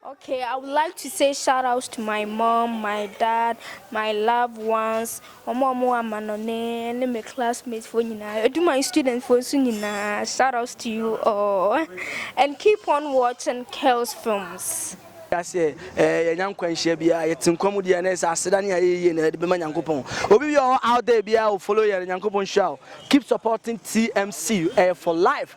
Ok I would like to say shout out to my mom, my dad, my loved ones, ɔmo a ɔmo wɔ amanɔne ne me classmate foɔ nyinaa, ɛdu my student foɔ nso nyinaa shout out to you all and keep on watching Kells films. Wiase a yɛanya nkwanhyia biara, yɛte nkwa mu deɛ a na ɛsɛ aseda ne ayɛ yie na yɛde bɛma Nyankopɔn. Obi biara a ɔwɔ out there biara o follow yɛn, Nyankopɔn nhyira wo. Keep supporting TMC, ɛyɛ for life.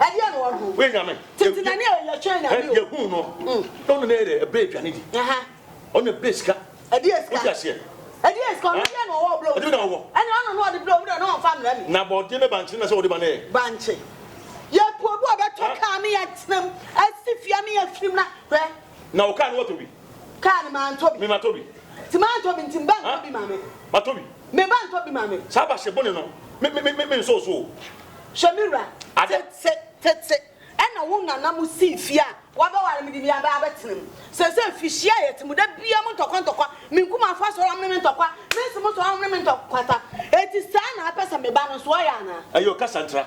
Ɛdeɛ na ɔhunu. Woyɛ nyame. Tete na ne yɛ twɛn nyame o. Yɛhuu no. Na ɔno na yɛ ɛbrɛ aduane di. Ɔno na ɛbrɛ sika. Ɛdeɛ sika. Wote aseɛ. Ɛdeɛ sika ɔno deɛ na ɔwɔ ɔbrɛ obi. Ɛdeɛ na ɔwɔ. Ɛne ɔno na ɔde brɛ obi na ɔmfa mmerɛ me. Na bɔɔdeɛ ne bankye no na sɛ ɔde ma no ɛ. Bankye. Yɛpɔ obi ɔbɛtɔ kaa ne yɛtena mu. Asi fie ne yɛfirim na hwɛ. Na wo car no watɔ bi. Car no mantɔ bi. Me matɔ bi. Nti mantɔ bi nti me ba ntɔ bi ma me. Matɔ bi. Me ba ntɔ bi ma me. Saa ba hye bone no me me me me nsɔɔ so o. Hwɛ me wura. Ade. Te te te te ɛna wo nana mo sii fie a wabɛware me de me aba abɛtena mu. Sɛsɛ fihyia a yɛte mu da biaa mo ntɔkwa ntɔkwa me nkumanfoɔ asɔre ɔmo ne me ntɔkwa me nse mo sɔre ɔmo ne me ntɔ kwata. Eti saa na apɛ sɛ me ba no nso ɔyɛ anaa. Ɛyɛ ɔkasa ntra.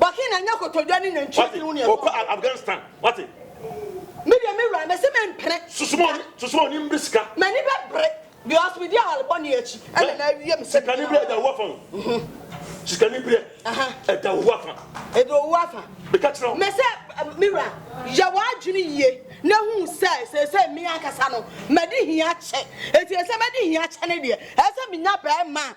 Bɔke na ɛnyɛ kotodwe ne nantwie tiri ho ne ɛbɔn. Wate, ɔkɔ Afghanistan, wate. Me deɛ me wura, mese mempene. Susuma, susuma ɔni mbre sika. M'ani bɛbre, because medi awale bɔne akyi, ɛna na awie me sɛ. Sikani berɛ ɛda wo afa o. Sikani berɛ ɛda wo afa. Ɛda wo afa. Meka kyerɛ wo. Mese me wura, yɛ w'adwene yie na hu sɛ seesei me ankasa no, madi hia kyɛ. Enti ɛsɛ madi hia kyɛ no deɛ, ɛsɛ menya bɛrima a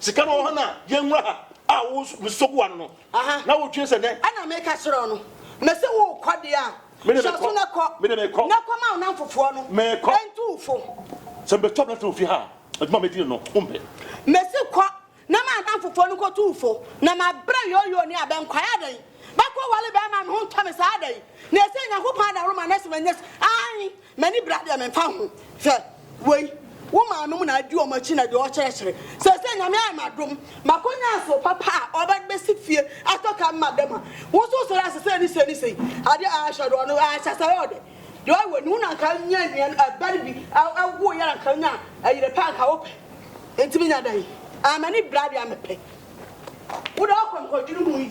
Sika no wɔ hɔ na yɛnwura ha a wo nso mesɔ gu w'ano no. Aha. Na wotwe sɛ dɛn? Ɛna meka kyerɛɛ wo no, na sɛ worekɔ deɛ a, Me de hyɛ mekɔ. aso na kɔ, Me de mekɔ. na kɔma wo nnamfofoɔ no, Mekɔ. na ntu wo fo. Sɛ mebɛtu aberante wɔ fie ha a, adwuma a mɛdi no no, wompɛ. Mese kɔ, na ma nnamfofoɔ no nkɔtu wo fo, na mabrɛ yooyoo ne abɛ nkwae adɛn? Bɛkɔware bɛrima a ne ho ntɔ me saa adɛn? Na ɛsɛ Onyankopɔn adaworoma na ɛsɛ manya sika? Aane, M'ani bra deɛ memfa ho Hwɛ wei Wo maa nom na adi wɔn akyi na deɛ ɔkyerɛkyerɛ Seesei Nyame ayɛ m'adom Makɔnya nso papa a ɔbɛsi fie atɔ ka me madam a Wo nso wosɔre ase sei ne sei ne sei Adeɛ a ahyɛ do ɔno ahyɛ sɛ ɔyɛ ɔdɛ Deɛ ɔyɛ wei no wo na nka nya nua no ɛba no bi Ɛwoo yɛ na nka nya yere pa nka wo pɛ Enti menya dɛn? Ah m'ani bra deɛ mepɛ Wo deɛ ɔkɔ nkɔdwene ho yie.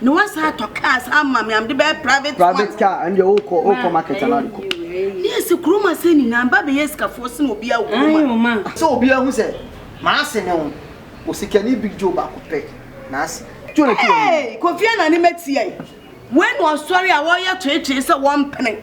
Na wasan atɔ kaa san ama me a mede bɛyɛ private one. Private car ɛno deɛ wokɔ wokɔ market anaa de kɔ. Ne yɛ sɛ kurom asɛ nyinaa mba bɛyɛ sikafoɔ sene obiara wɔ kurom a. Sɛ obiara hu sɛ m'ase ne wo osikani big joe baako pɛ na ase. Joe na ɛte w'anim yi. Hey Kofi Anane matia yi. Wei na ɔsɔre a wɔyɛ toetoe sɛ wɔmpene.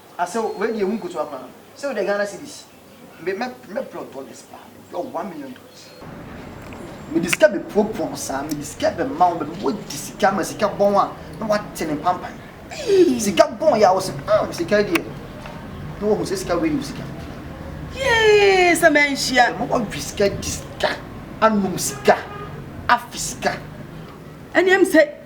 Asew wei deɛ ɛho nkotoa koraa no sɛ wode Ghana cedis me mɛ mɛbrɛ wo dollars paa mɛbrɛ wo one million dollars mede sika bɛpuapua wo saa mede sika bɛma wo bɛma wadi sika ma sika bɔn a na wate ne mpampan sika bɔn yɛ a wo sɛ mm sika deɛ na wahu sɛ sika wei yɛ sika yee sɛ manhyia bɛma wawe sika di sika anom sika afe sika ɛneɛm sɛ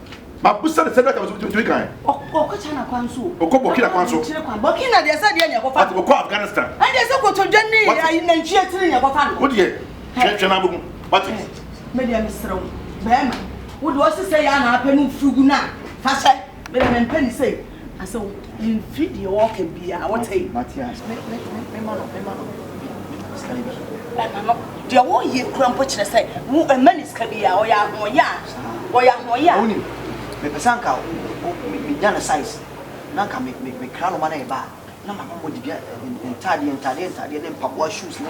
Mabisa no sɛ dɛn na ɔtumi kae. Ɔkɔ China kwan so o. Ɔkɔ Burkina kwan so. Burkina deɛ sɛ deɛ na ɛkɔfa no. Ɔkɔ Afghanistan. Ɛndeɛ sɛ kotodwe ne ayi nantwie tiri na ɛkɔfa no. Wodeɛ hwɛ hwɛ na bɛhu wate. Me deɛ mesrɛ wo bɛɛma wo deɛ ɔse sɛ yɛ a na apɛ no firi gu no a fa hyɛ me deɛ mempɛ no sei. Asɛ mfi deɛ wɔka biara wote. Mate a me me me me ma no me ma no sika bi. Ɛma no deɛ wɔyɛ kura mpo kyerɛ sɛ wo ɛma ne sika bi a ɔyɛ ahoɔyɛ a ɔyɛ ahoɔyɛ a. Wonim mepɛ sɛ anka me nya ne size na anka me me me kra no ma no yɛ ba a na ma no mɔ dibia ntaadeɛ ntaadeɛ ntaadeɛ ne mpaboa shoes ne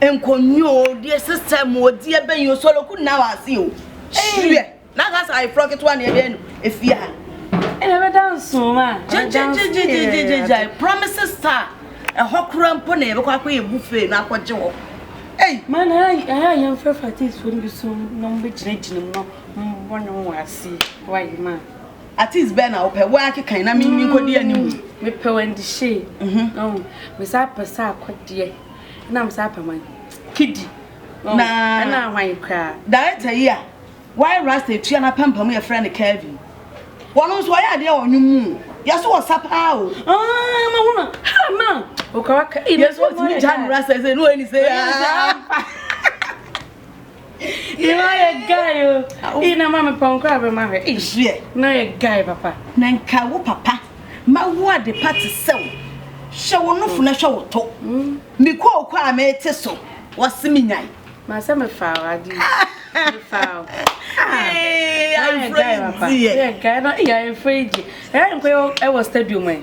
nkonnwa o deɛ sisɛ mu o deɛ bɛyi o sɔlɔku na wa ase o hyerɛ na ka sa ayeforɔ ketewa na ɛbɛn no efie ha. ɛna ɛbɛda nson a gyegyegyegyegyegya promise star ɛhɔ kora mpo na yɛbɛkɔ akɔ yɛ buffet na akɔgye hɔ. Ei. Ma na ɛyɛ yɛn fɛ fatifoɔ no bi so na wɔbɛgyinagyina mu na wɔne wɔn ase wɔ ayɛ ma. Artist bɛn na wopɛ? Wo ara kekan na me nkɔdi anim. Mepɛ Wendy Shay. Mm-hmm. Mesan pɛ Sarkodie. Ɛna mesan pɛ hwan? Kidi. Na ɛna hwan koraa? Director yi a wayɛ rasta etua na pampam yɛ frɛ no Kevin. Wɔn nso ɔyɛ adeɛ wɔ nnwom mu. Yɛ so wɔ sa paa o. Ah, ma hona. Ha ma. Okawaka. Yɛ so tumi gya no rasta sɛ no ɛni sɛ. Ina yɛ guy o. Ina ma me pɔnkɔ abɛ ma hwɛ. Ezuɛ. Na yɛ guy papa. Na nka wo papa ma wo ade pa te sɛ wo. Hwɛ wo nofo na hwɛ wo to. Mm. Me kooko a me te so. Wɔse me nyan. Ma sɛ me fa wo adi. Me fa wo. Ee, ayefo yi di yɛ. Yɛ guy no, ee ayefo yi di. Ɛyɛ nkɔ yɛ wɔ stadium ɛ.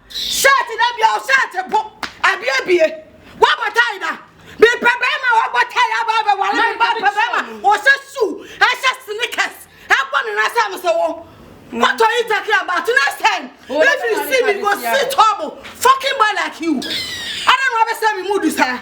Shirt na bia o shirt po. Abie bie. Wa bɔ tie da. Bi pɛ bɛma wa bɔ tie aba abɛ wale mi ba pɛ bɛma. O se su. E se sneakers. E bɔ ne na se am se wo. What are you talking about? Next time, if you see me, go see trouble. Fucking boy like you. I don't know what to say, me mood, sir.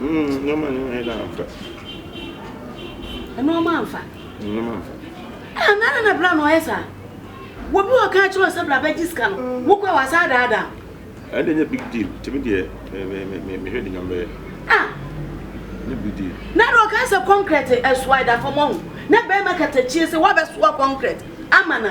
Nneɛma no yɛ dɛ amfa. Nneɛma amfa. Nneɛma amfa. Ah, na na bra na ɔyɛ saa. Wɔ bi wɔ kan kyerɛ sɛ bra bɛgye sika no. Wo kɔ wa saa daa daa. Ɛde nyɛ big deal. Timi deɛ me me me me mehwɛ de nyam bɛyɛ. Ah. Nyɛ big deal. Na na ɔka sɛ kɔnkrɛt ɛsoa ɛda fam ɔho. Na bɛrima kata kyie sɛ wabɛsoa kɔnkrɛt ama na.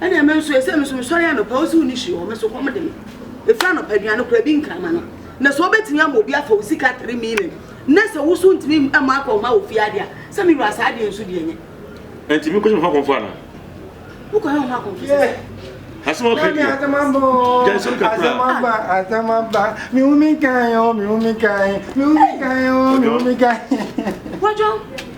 Ɛnna me nso, ɛsɛ me nso mesɔre anɔpa, wosi wo nisi hɔ, me so kɔm de me. Efiri anɔpa aduane kora bi nkrama no. Na sɛ wobɛtumi ama obi afa wo sika three million, na sɛ wo so ntumi mma akɔ mma wo fie adeɛ a, sɛ me wura saa adeɛ nso deɛ nyɛ. Ɛnti mi kɔyɛ ho akɔmfo ana? Wokɔyɛ ho akɔmfo sɛ? Asɛm ɔka deɛ. Gyansɛm kakra. Asɛm aba, asɛm aba. Mi hu mi kan yɛ o, mi hu mi kan, mi hu mi kan yɛ o, mi hu mi kan. Wɔdwo.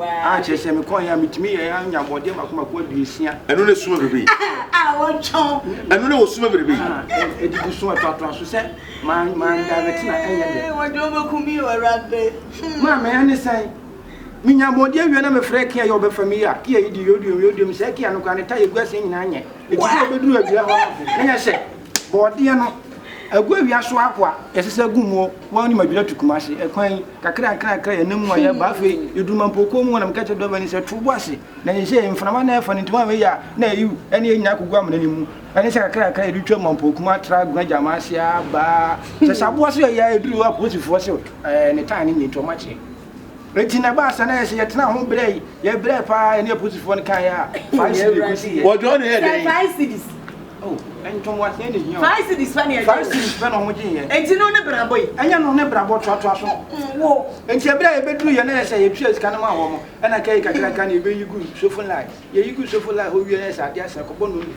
a kyerɛ sɛ mekɔeɛ a metumi yɛɛ a nya bɔdeɛ baako baako aduosia. Ɛno na esuma bebree. Ɛno na wɔsuma bebree. Edidi so ɛtoatoa so sɛ man man direct na ɛnyɛ dɛ. Wɔde wɔn bɛku mi o awurade. Maa mɛ ɛne sɛn menya bɔdeɛ wie na mefrɛ kia yɛ ɔbɛfa mi ya kia yi di yɛ oduom yɛ oduom sɛ kia no kora ne ta yɛ gu aseɛ nyinaa nyɛ eti sɛ ɔbɛduru awia hɔ na yɛ hyɛ. Borɔdeɛ no, agu awia so ahoa, yɛsɛ sɛ gu muo, wɔn ne madwira tu kumase, ɛkwan yi, kakra nkra nkra yɛnam mu a yɛba, afei yɛduru mampo kuo mu hɔ na meka kyerɛ driver no sɛ to bo ase, na seisei mframa no ɛfa no nti wɔn wei a na ayiw, ɛne yɛn nyinaa kɔgu amena no mu, ɛne sɛ kakra nkra yɛde twa mampo kuo mu atra agona gyama ase aba, sɛ saboa so yɛyɛ a ɛduru hɔ a polisifoɔ se ɛɛ ne tae no nyɛ nti wɔn akyɛ. Enti na ɛbaa saa na ɛyɛ sɛ yɛtenaa ho brɛ yi, yɛbrɛɛ paa, yɛne aposifoɔ no kaeɛ a, five cedis na ɛkɔsiiɛ. Wɔdwɔɔ no yɛɛ dɛn? Five cedis. Oh, ntoboaseɛ na ɛhia o. Five cedis pɛ na yɛgyeeɛ. Five cedis pɛ na wɔgyeeɛ. Enti no ne brabɔ yi? Ɛnyɛ no ne brabɔ, toatoa so. Wo. Enti ɛberɛ a yɛbɛduruiɛ no ɛyɛ sɛ yɛtuaa sika no maa wɔn, ɛnna ɛkɛyɛ kakraka na yɛbɛyi guu sofo no line. Yɛyi guu sofo no line hɔ wieeɛ no ɛyɛ sɛ adeɛ asa, ɛkɔbɔ nnɔnum.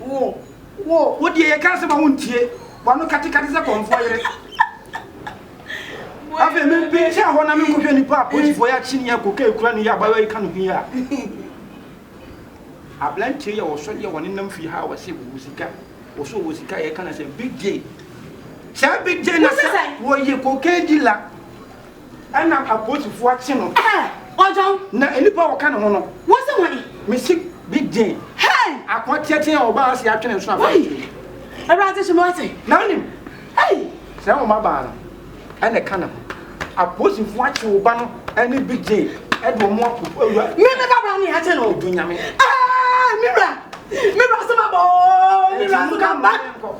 Wo, wo, wo deɛ yɛka asɛm a wontie, w'ano katekate sɛ kɔmfoɔ yere. Afei mempinkyɛn hɔ na menkɔhwɛ nipa a polisifoɔ yɛ akye ne yɛ koka ekura no yi abaayewa yi ka ne ho yi a. Aberanteɛ yi a ɔsɔ deɛ wɔne nam fie ha a wɔse wɔwɔ sika, wɔse wɔwɔ sika a yɛka no sɛ Big J. Saa Big J na sɛ wɔyɛ cocaine dealer. Ɛna apolisifo akye no. Ɛɛ! Ɔgyaw. Na nnipa a wɔka ne ho no. Wose wɔn? Mese bi den. Hey! Akoa teatea a ɔbaa ase atwene nso afa akyiri. Awurade hyɛ me wase. Na wonim. Hey! Sɛ ɛwɔ mmabaa no, ɛna ɛka ne ho. Apolisifo akye wo ba no ne bi den de wɔn akɔ awura. Me me babra ne akye no. Odu nyame. Ɛɛ! Me wura! Me wura sɛ ma bɔ! Me wura so ka ba!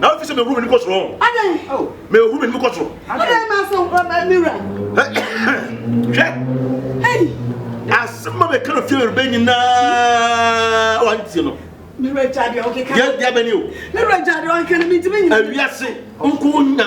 na afei sɛ mehuru m'anim kɔ soro mehuru m'anim kɔ soro hwɛ asɛm a meka no fie mereba nyinaa wantie no yɛdeɛ bɛne o awiase nko nya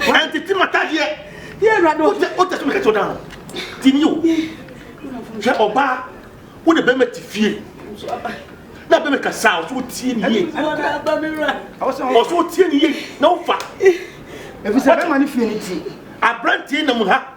ɛntete matadeɛ wotɛ so mekɛsɛ woda no tini o hwɛ ɔbaa wo ne bɛma te fie na bɛma kasa a ɔsɛ wotie ne yie ɔsɛ wotie ne yie na wofa ɛfisɛ bɛma ne fie ne ti aberanteɛ nam ha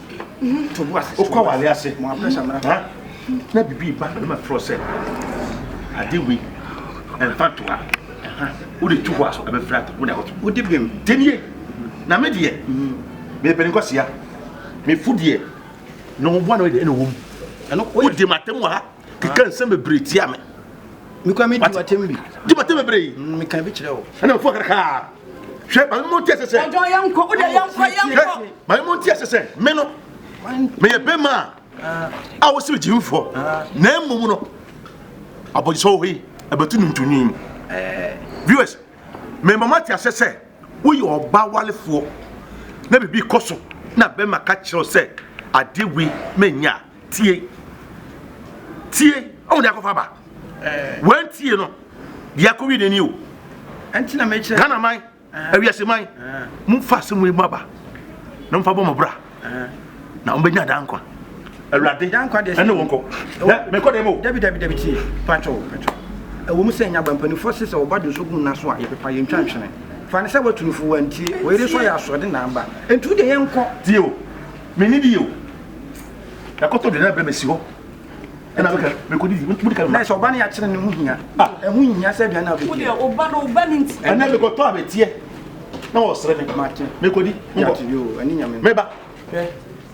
wokɔ awale ase na biribi ba na matorɔ sɛ ade wei ɛmfa to ha wode to hɔ a so ɛbɛfiri ato wode akɔto wode bem denie na me deɛ mepɛne nkɔsia mefo deɛ na wɔboa na wɔde ɛna wɔm wode matam wɔ ha keka nsɛm bebree tia me mekɔ me di watem bi di watem bebree mm, meka bi kyerɛ wo ɛna mfo krakaa hwɛ ma mo nti ɛsɛ sɛ ɔjɔ yɛ nkɔ wodɛ yɛ nkɔ yɛ nkɔ ma mo nti ɛsɛ sɛ me no meyɛ bɛma a a wosi gyi mfɔ na mmom no abɔgyesɛ wɔ hɔ yi ɛbɛtu no ntonyin eh. viewers mema mo ate asɛ sɛ woyɛ ɔba walefoɔ na biribi kɔ so na bɛma ka kyerɛw sɛ adeɛ wei manya a Tie, tie, ɔmo de akɔfa ba. Wɔn tie no, de akɔ wie n'ani o. Ɛnti na mekyerɛ. Ghana man, awiase man, mo fa asɛm wei mu aba, na mo fa bɔ mo bra, na ɔmo bɛ nya dan kwa. Awurade, dan kwa deɛ. Ɛne wɔn kɔ. Dɛ, mɛ kɔ dɛ mo. Dabi dabi dabi tie, patro patro. Ɛwɔ mu sɛ nya ba mpanimfoɔ se sɛ ɔba de nso gu nna so a yɛ pepa yɛ ntwa ntwene. Fa ne sɛ wɔatu no fo wɔn tie, wɔyere so ayɛ asoɔde na aba. Ɛnti wo deɛ yɛn kɔ. Tie o. Menni bi o. Yɛakɔtɔ aduane abrɛ me asi hɔ. Ɛna meka mekɔdidi modi ka mma. Sɛ ɔba no yɛakyerɛ no ho hia. Ah. Ɛho nhia sɛ aduane a wobɛdi. Wo deɛ ɔba no ɔba no nti. Ɛnɛ mekɔtɔ a meteɛ na wɔsrɛ me. Mate. Mekɔdi. Mate yoo ɛne nyame. Meba. Hwɛ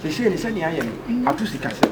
seesei ne sɛnea ayɛ no ato sikasɛm.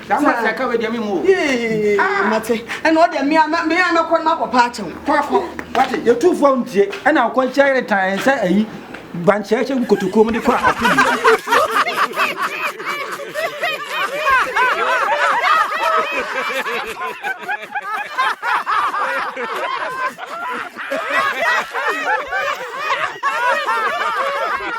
That man sɛ ka wei deɛ me mu o. Yee ah. mate ɛna ɔdeɛ me a me a mɛkɔ no makɔ paa kyɛw. Kɔ akɔ wate yɛtu fo ntie ɛna ɔkɔ nkyɛn yere tan sɛ ayi gbankyɛkyɛ gu kotokuo mu de kɔ a ɔte bi.